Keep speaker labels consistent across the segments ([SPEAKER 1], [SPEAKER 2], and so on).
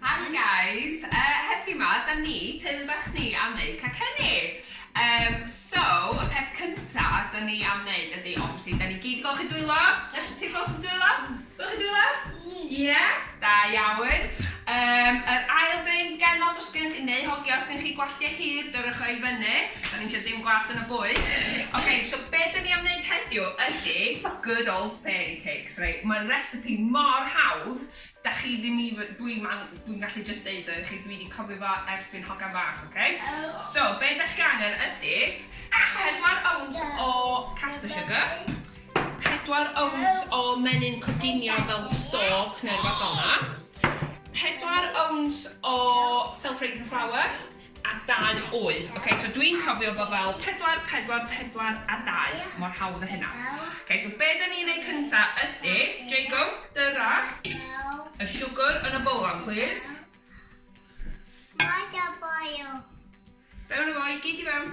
[SPEAKER 1] Hi guys! Uh, heddiw ma, da ni, teulu bach ni, am wneud cacenni. Um, so, y peth cynta da ni am wneud ydy, obviously, da ni gyd i golchi dwylo. Da chi ti'n golchi dwylo? Golchi dwylo? Ie. Yeah? Da iawn. Um, yr ail ddyn genod os gennych chi neu hogia os gennych chi gwalliau hir, dyrwch o i fyny. Da ni eisiau dim gwallt yn y bwyd. Oce, okay, so be da ni am wneud heddiw ydy good old fairy cake. Reit, mae'r recipe mor hawdd, da chi ddim even, dwi man, dwi'n gallu jyst deud o i chi, dwi di cofio fo ers fi'n hogan fach, ok? So, be da chi angen ydi, pedwar owns o caster sugar, pedwar owns o menyn coginio fel stalk neu rwbath felna, pedwar owns o self-raising flour, a dau oedd. Oce, so dwi'n cofio bod fel 4, 4, 4 a 2, mor hawdd a hynna. Oce, so be da ni'n ei cynta ydy, Jago, dyra y siwgr yn y bolon, please. Mae da boio. Fewn efo i gyd i fewn.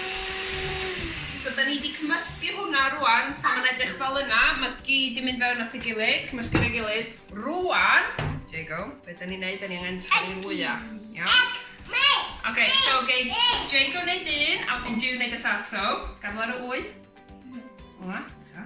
[SPEAKER 1] So 'da ni 'di cymysgu hwnna rŵan, tan ma'n edrych fel yna, ma' gyd 'di mynd fewn at ei gilydd, cymysgu efo'i gilydd. Rŵan, there you go, be' 'da ni'n neud, 'da ni angen torri'r wya, iawn? Oce, so geith Jago neud un, a wedyn Jiw neud y llall, so, gadael ar y ŵyn. Fel 'na, dechra.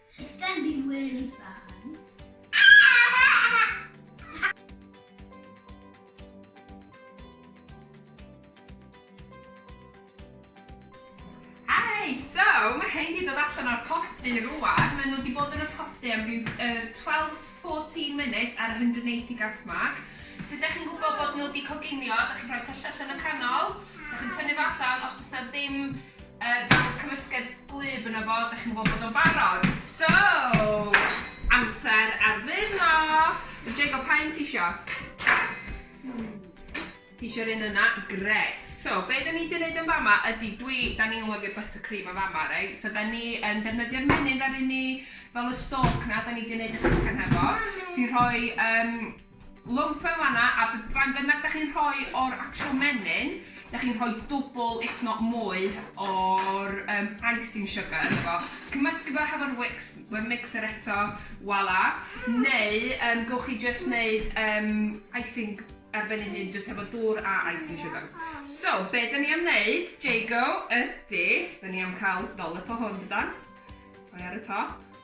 [SPEAKER 1] It's gonna be really fun. Hi! So, mae rhein wedi dod allan o'r podi rwan. Maen nhw wedi bod yn y podi am ryw uh, 12-14 munud ar 180 gas mark. So, da chi'n gwybod bod nhw wedi coginio, da chi'n rhoi pyllau allan y canol, da chi'n tynnu fo allan, os oes na ddim Yy bydd y cymysgedd gwlyb yno fo, dach chi'n gwbod bod o'n barod. So, amser addurno! Yy Jago, pa un ti isio? Ti isio'r un yna? Grêt! So, be' 'dan ni 'di neud yn fama ydi dwi... 'dan ni'n lyfio buttercream yn fama reit, so 'dan ni yn defnyddio'r menyn ddaru ni fel y stork 'na 'dan ni 'di neud y cacan hefo. Ti rhoi yym Lwmp fe fana a b- faint bynnag dach chi'n rhoi o'r actual menyn, dach chi'n rhoi dwbl if not mwy o'r yym icing sugar ynddo fo. Cymysgu fo hefo'r whics mewn mixer eto, voila. Neu yym gewch chi jyst neud yym icing ar ben ei hun jyst hefo dŵr a icing sugar. So, be' 'dan ni am neud, Jago, ydi, 'dan ni am ca'l dollop o hwn dydan? Mae ar y top.